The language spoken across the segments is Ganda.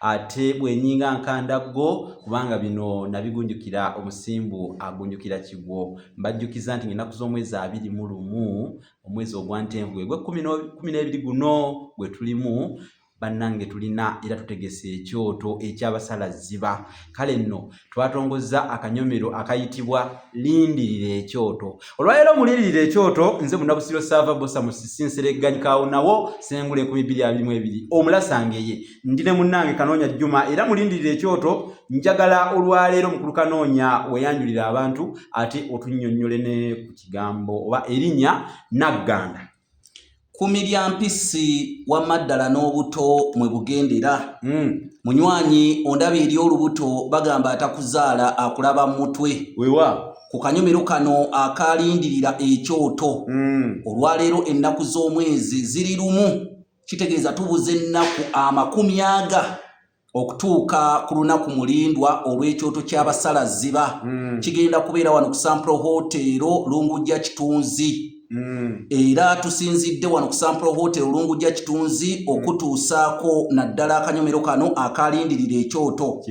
ate bwenyinga nkanda go kubanga bino nabigunjukira omusimbu agunjukira kigwo mbajjukiza nti ngenaku z'omwezi abiri mu lumu omwezi ogwantenvu egwe kumi n'ebiri guno gwe tulimu bannange tulina era tutegese ekyoto ekyabasala ziba kale nno twatongozza akanyomero akayitibwa lindirira ekyoto olwaleero mulindirira ekyoto nze munabusiro saava bosa musisinseregganyikaawo nawo sengula enkumi bbiri abiri mu ebiri omulasangeye ndi ne munnange kanoonya jjuma era mulindirira ekyoto njagala olwaleero mukulu kanoonya weyanjulira abantu ate otunnyonnyole ne ku kigambo oba erinnya nagganda Kumi lya mpisi wamma ddala n'obuto mwe bugendera. Hmm. Munywanyi ondaba eri olubuto bagamba atakuzaala akulaba mu mutwe. Wewa. Ku kanyomero kano akaalindirira ekyoto. Hmm. Olwaleero ennaku z'omwezi ziri lumu kitegeeza tubuza ennaku amakumi aga. okutuuka ku lunaku mulindwa olw'ekyoto ky'abasala ziba mm. kigenda kubeera wano ku sampro hoteero lungujja kitunzi Mm. era tusinzidde wano ku sampro hotel olungu ja kitunzi mm. okutuusaako naddala akanyomero kano akalindirira ekyoto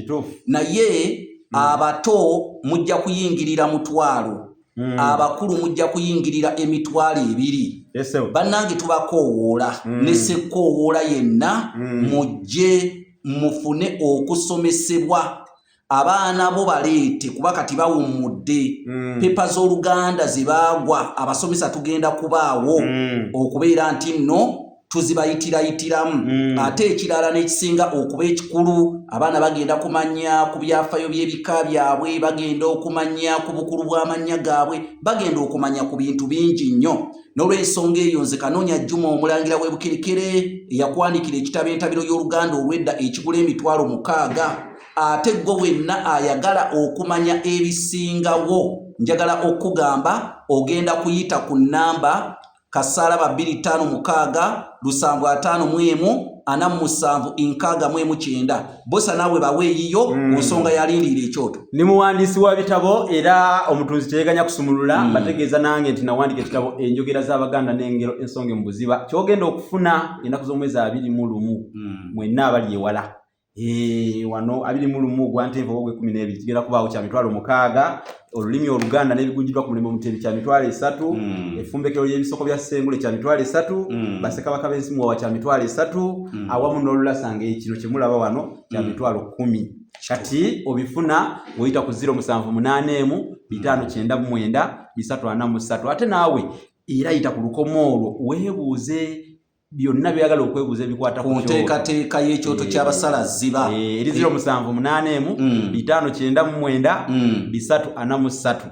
naye mm. abato mujja kuyingirira mutwalo Mm. abakulu mujja kuyingirira emitwalo ebiri bannange tubakoowoola mm. ne sekkoowoola yenna mm. mujje mufune okusomesebwa abaana bo baleete kuba kati bawummudde mm. pepa z'oluganda ze baagwa abasomesa tugenda kubaawo mm. okubeera nti nno tuzibayitirayitiramu mm. ate ekirala n'ekisinga okuba ekikulu abaana bagenda kumanya ku byafayo by'ebika byabwe bagenda okumanya ku bukulu bw'amannya gaabwe bagenda okumanya ku bintu bingi nnyo n'olw'ensonga eyo nze kanoonya jjuma omulangira w'ebukerekere eyakwandikira ekitabo entabiro y'oluganda olw'edda ekigula emitwalo mukaaga ate gwe wenna ayagala okumanya ebisingawo njagala okugamba ogenda kuyita ku nnamba kasaala ba bbiri ttaano mukaaga lusanvu ataano mu emu ana mu musanvu enkaaga mu emu kyenda bosa naawe bawe eyiyo mm. mu nsonga yalindiira ekyoto ni muwandiisi wa bitabo era omutunzi teyeganya kusumulula mm. bategeeza nange nti nawandika ekitabo enjogera z'abaganda n'engero ensonge mu buziba kyogenda okufuna enaku z'omwezi abiri mu lumu mm. mwenna abali ewala Eh, wano abiri mu lumu ogwa ntenvu oba ogw'ekkumi n'ebiri kigenda kubaawo kya mitwalo mukaaga olulimi oluganda n'ebigunjidwa ku mulimu omutebi kya mitwalo esatu hmm. efumbekero ly'ebisoko bya ssengule kya mitwalo esatu hmm. basekabaka b'ensi muwawa kya mitwalo esatu hmm. awamu n'olulasa ng'ekino kye mulaba wano kya mitwalo kkumi kati obifuna ng'oyita ku ziro musanvu munaana emu bitaano kyenda mu mwenda bisatu ana mu ssatu ate naawe era yita ku lukomo olwo weebuuze byonna byagala okwebuuza ebikwata ku nteekateeka y'ekyoto ky'abasala ziba eh, eri ziro eh. musanvu munaana emu mm. bitaano kyenda mu mwenda mm. bisatu ana mu ssatu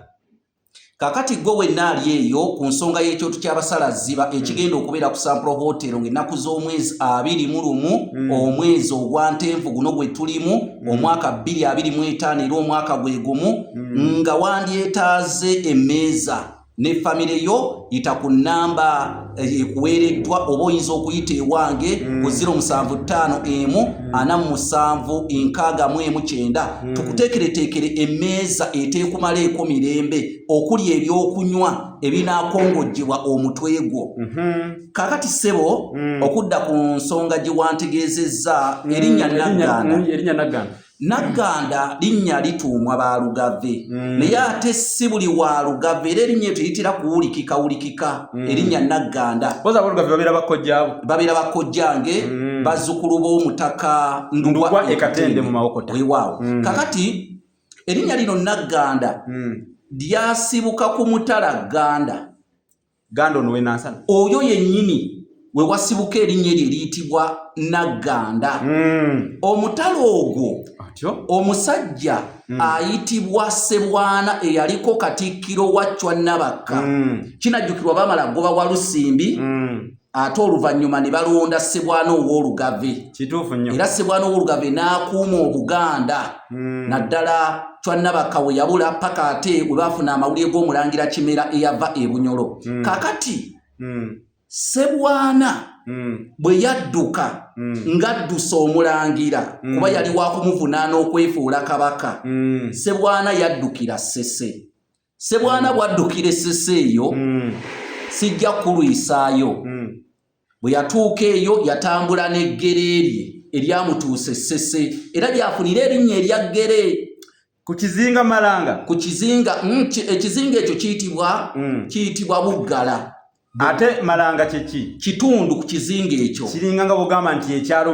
kakati gwe wenna ali eyo ku nsonga y'ekyoto ky'abasala ziba mm. ekigenda okubeera ku sampro hotel ng'ennaku z'omwezi abiri mu lumu omwezi ogwa ntenvu guno gwe tulimu omwaka bbiri abiri mu etaano era omwaka gwe gumu nga wandyetaaze emmeeza ne famire yo yita ku namba eh, ekuweereddwa oba oyinza okuyita ewange mm. ku 075 emu 47 mm. emu kyenda mm. tukuteekereteekere emmeeza eteekumala eko mirembe okuli ebyokunywa ebinaakongojjebwa omutwe gwo mm-hmm. kakati ssebo okudda ku nsonga gye wantegeezezza erinnya nagganda Nagganda linnya lituumwa ba Lugave mm. naye ate si buli wa Lugave era erinnya eto litera kuwulikika wulikika mm. erinnya Nagganda babeera bakkojjange mm. bazzukulu b'omutaka ndugwa ekatende mu mawokota wewaawo mm. kakati erinnya lino Nagganda mm. lyasibuka ku mutala Gganda Ganda ono wenansana oyo yenyini wewasibuka erinnya eryo eriyitibwa nagganda hmm. omutala ogwo omusajja hmm. ayitibwa sebwana eyaliko katikkiro wa cwa nabakka hmm. kinajjukirwa bamala goba walusimbi ate oluvannyuma ne balonda ssebwana ow'olugave kituufu nnyo era ssebwana ow'olugave n'akuuma obuganda hmm. naddala cwannabakka we yabula paka ate we baafuna amawulire g'omulangira kimera eyava e bunyolo hmm. kakati hmm. ssebwana bwe yadduka ng'addusa omulangira kuba yali wakumuvunaana okwefuula kabaka ssebwana yaddukira ssese sebwana bwaddukira essese eyo mm. sijja kulwisaayo mm. bwe yatuuka eyo yatambula n'eggere lye eryamutuusa essese era lyafunira erinnya erya ggere ku kizinga malanga ku kizinga mm, ekizinga ekyo kiyitibwa mm. kiyitibwa buggala ate malanga kyeki kitundu ku kizinga ekyo kiringa nga bugamba nti ekyalo